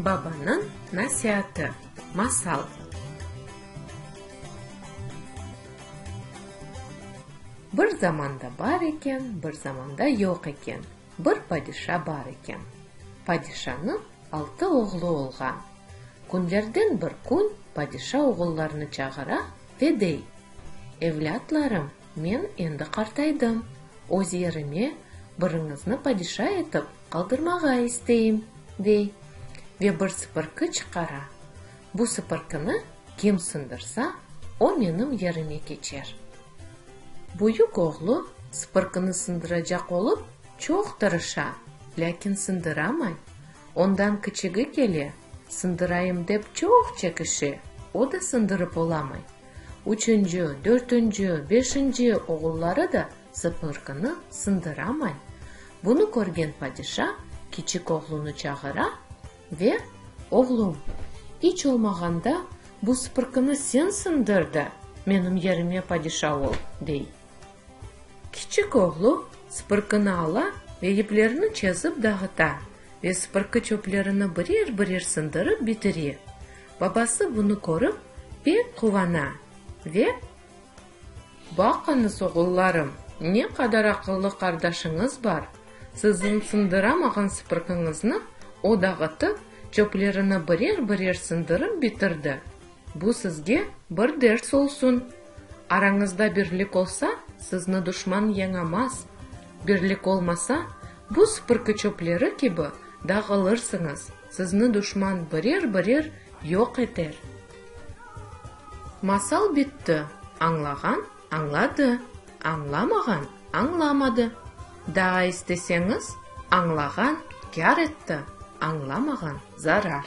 Babanıñ nasiatı. Masal. Bir zamanda bar eken, bir zamanda yoq eken. Bir padişa bar eken. Padişanıñ altı oğlu olğan. Künlerden bir kün padişa oğullarını çağıra. Dedey, Evlâtlarım, men endi qartaydım, öz yerime biriñizni padişa etip qaldırmağa isteyim, dey ve bir sıpırqı çıqara. Bu sıpırqını kim sındırsa, o menim yerime keçer. Büyük oğlu sıpırqını sındıracaq olıp çoq tırışa, lâkin sındıramay, Ondan kiçigi kele, sındırayım dep çoq çekişe, o da sındırıp olamay. Üçünci, dörtünci, beşinci oğulları da sıpırgını sındıramay. Bunı körgen padişa kiçik oğlunı çağıra ve, Oğlum, iç olmağanda bu sıpırgını sen sındır da, menim yerime padişa ol, dey. Kiçik oğlu sıpırkını ala ve yiplerni çezip dağıta ve sıpırkı çöplerini birer-birer sındırıp bitire. Babası bunı körip, pek quvana ve. Baqıñız, oğullarım, ne qadar aqıllı qardaşıñız bar! Siziñ sındıramağan sıpırkıñıznı o dağıtıp, çöplerini birer-birer sındırıp bitirdi. Bu sizge bir ders olsun! Arañızda birlik olsa, sizni duşman yañamaz. Birlik olmasa, bu süpürki çöpleri kibi dağılırsıñız, sizni duşman birer-birer yoq eter. Masal bitti. Añlağan añladı, añlamağan añlamadı. Daa isteseñiz, añlağan kâr etti, añlamağan zarar.